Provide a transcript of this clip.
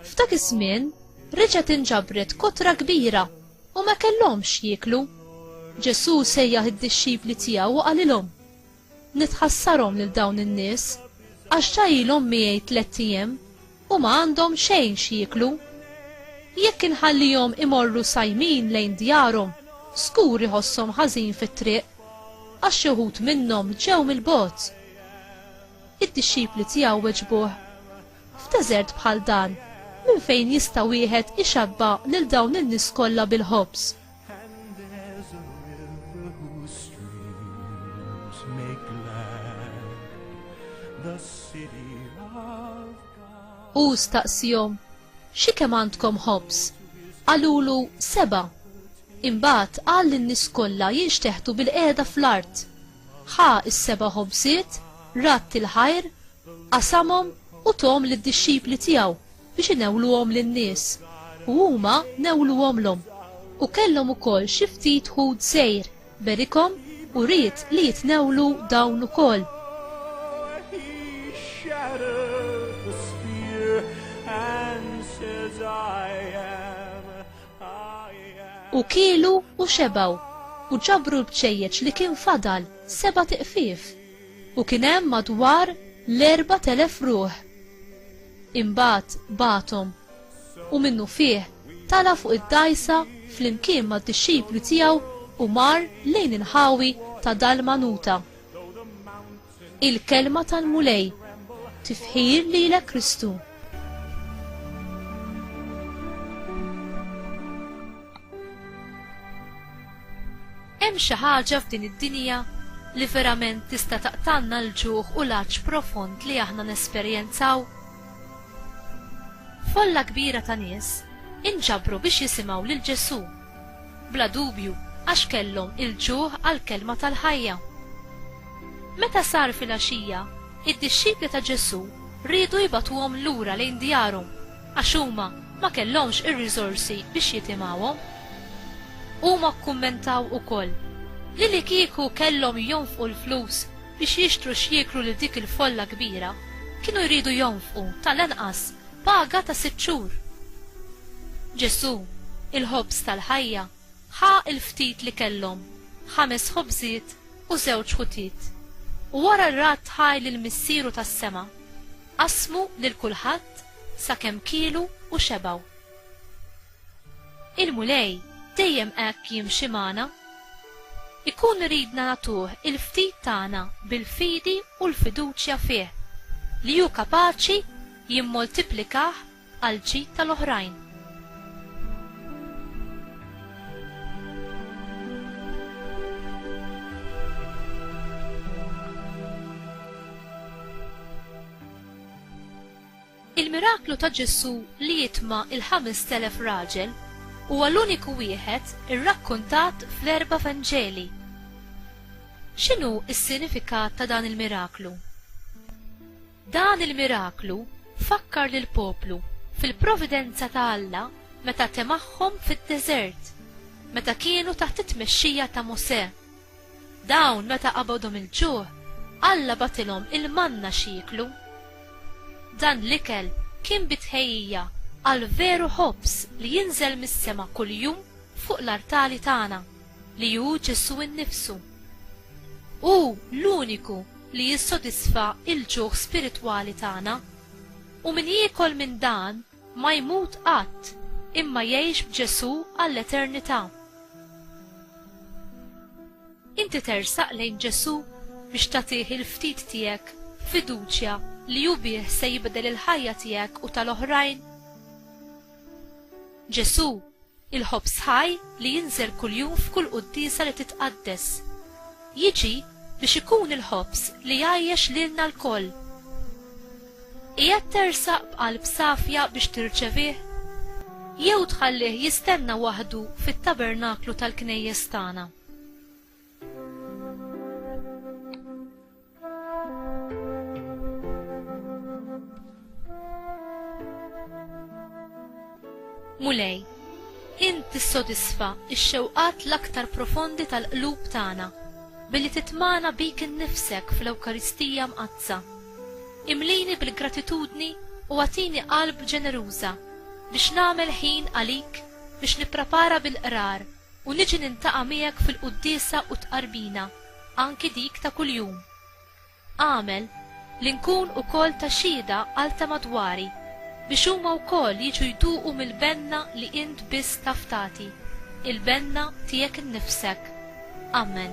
F'dak iż-żmien reġgħet inġabret kotra kbira u ma kellhomx jieklu. Ġesù sejjaħ id-dixxipli tiegħu u qalilhom, Nitħassarhom lil dawn in-nies għax ġa ilhom miegħi tlett ijiem u ma għandhom xejn x'jieklu. Jekk inħallihom imorru sajmin lejn djarhom, żgur iħosshom ħażin fit-triq għax xi wħud minnhom ġew mill-bogħod. Id-dixxipli tiegħu weġbuh, F'deżert bħal dan, minn fejn jista' wieħed ixabba' lil dawn in-nies kollha bil-ħobż? And there's a river whose streams make glad the city of God. U staqsihom, xi kemm għandkom ħobż? Qalulu seba'. Imbagħad qal lin-nies kollha jinxteħtu bil-qiegħda fl-art. Ħa s-seba' ħobżiet, ratt il-ħajr, qasamhom u tom lid-dixxipli tiegħu biex inewluhom lin-nies, u huma newluhomlhom. U kellhom ukoll xi ftit ħut sejr, berikhom u ried li jitnewlu dawn ukoll. U kielu u xebgħu, u ġabru l-bċejjeċ li kien fadal, sebat iqfief. u kien hemm madwar l-4,000 ruħ. Imbagħad bagħathom, u minnufih tala' fuq id-dgħajsa flimkien mad-dixxipli tiegħu u mar lejn il-ħawi ta' Dalmanuta. Il-Kelma tal-Mulej, Tifħir lilek Kristu! Hemm xi ħaġa f'din id-dinja li verament tista' taqtanna l-ġuħ u l-għatx profond li aħna nesperjenzaw? Folla kbira ta' nies inġabru biex jisimgħu lil Ġesù Bla dubju, għax kellhom il-ġuħ għall-kelma tal-ħajja. Meta sar filgħaxija, id-dixxipli ta' Ġesù riedu jbagħtuhom lura lejn djarhom għax huma ma kellhomx ir-riżorsi biex jitimgħuhom. Huma kkummentaw ukoll li li kieku kellhom jonfqu l-flus biex jixtru x'jieklu lil dik il-folla kbira, kienu jridu jonfqu, tal-anqas, Paga ta' sitt xhur. Ġesù, il-Ħobż tal-ħajja, ħa l-ftit li kellhom, ħames ħobżiet u żewġ ħutiet, u wara rad ħaj lil Missieru tas-sema, qassmu lil kulħadd sakemm kielu u xebgħu. Il-Mulej dejjem hekk jimxi magħna. Ikun iridna nagħtuh il-ftit tagħna bil-fidi u l-fiduċja fih li hu kapaċi jimmultiplikah għall-ġid tal-oħrajn. Il-miraklu ta' Ġesù li jitma' il-ħames telef raġel huwa l-uniku wieħed irrakkuntat fl-erba' Vanġeli. X'inhu s-sinifikat ta' dan il-miraklu? Dan il-miraklu fakkar lill-poplu fil-providenza ta' Alla meta temahhom fid-deżert, meta kienu taħt it-tmexxija ta' Mosè. Dawn meta qabadhom il-ġuħ, Alla bagħatilhom il-manna x'jieklu. Dan l-ikel kien bi tħejjija għall-veru ħobż li jinżel mis-sema kuljum fuq l-artali tagħna. li hu Ġesù nnifsu. Hu l-uniku li jissodisfa l-ġuħ spiritwali tagħna. U min jiekol minn dan ma jmut qatt imma jgħix b'Ġesù għall-eternità. Inti tersaq lejn Ġesù biex tagħtih il-ftit tiegħek b'fiduċja li hu bih se jibdel il-ħajja tiegħek u tal-oħrajn? Ġesù il-ħobż ħaj li jinżel kuljum f'kull quddiesa li titqaddes. Jiġi biex ikun il-ħobż li jgħajjex lilna lkoll. Qiegħed tersaq b'qalb safja biex tirċevih? Jew tħallih jistenna waħdu fit-tabernaklu tal-knejjes tagħna? Mulej, int tissodisfa x-xewqat l-aktar profondi tal-qlub tagħna billi titmana bik innifsek fl-Ewkaristija mqaddsa. Imlini bil-gratitudni u għatini qalb ġeneruża biex nagħmel ħin għalik biex nipprepara bil-qrar u niġi nintaqa' miegħek fil-quddiesa u t-tqarbina, anki dik ta' kuljum. Agħmel li nkun ukoll ta' xhieda għal ta' madwari, biex huma wkoll jiġu jduqu mill-benna li int biss taf tagħti, il-benna tiegħek innifsek. Ammen.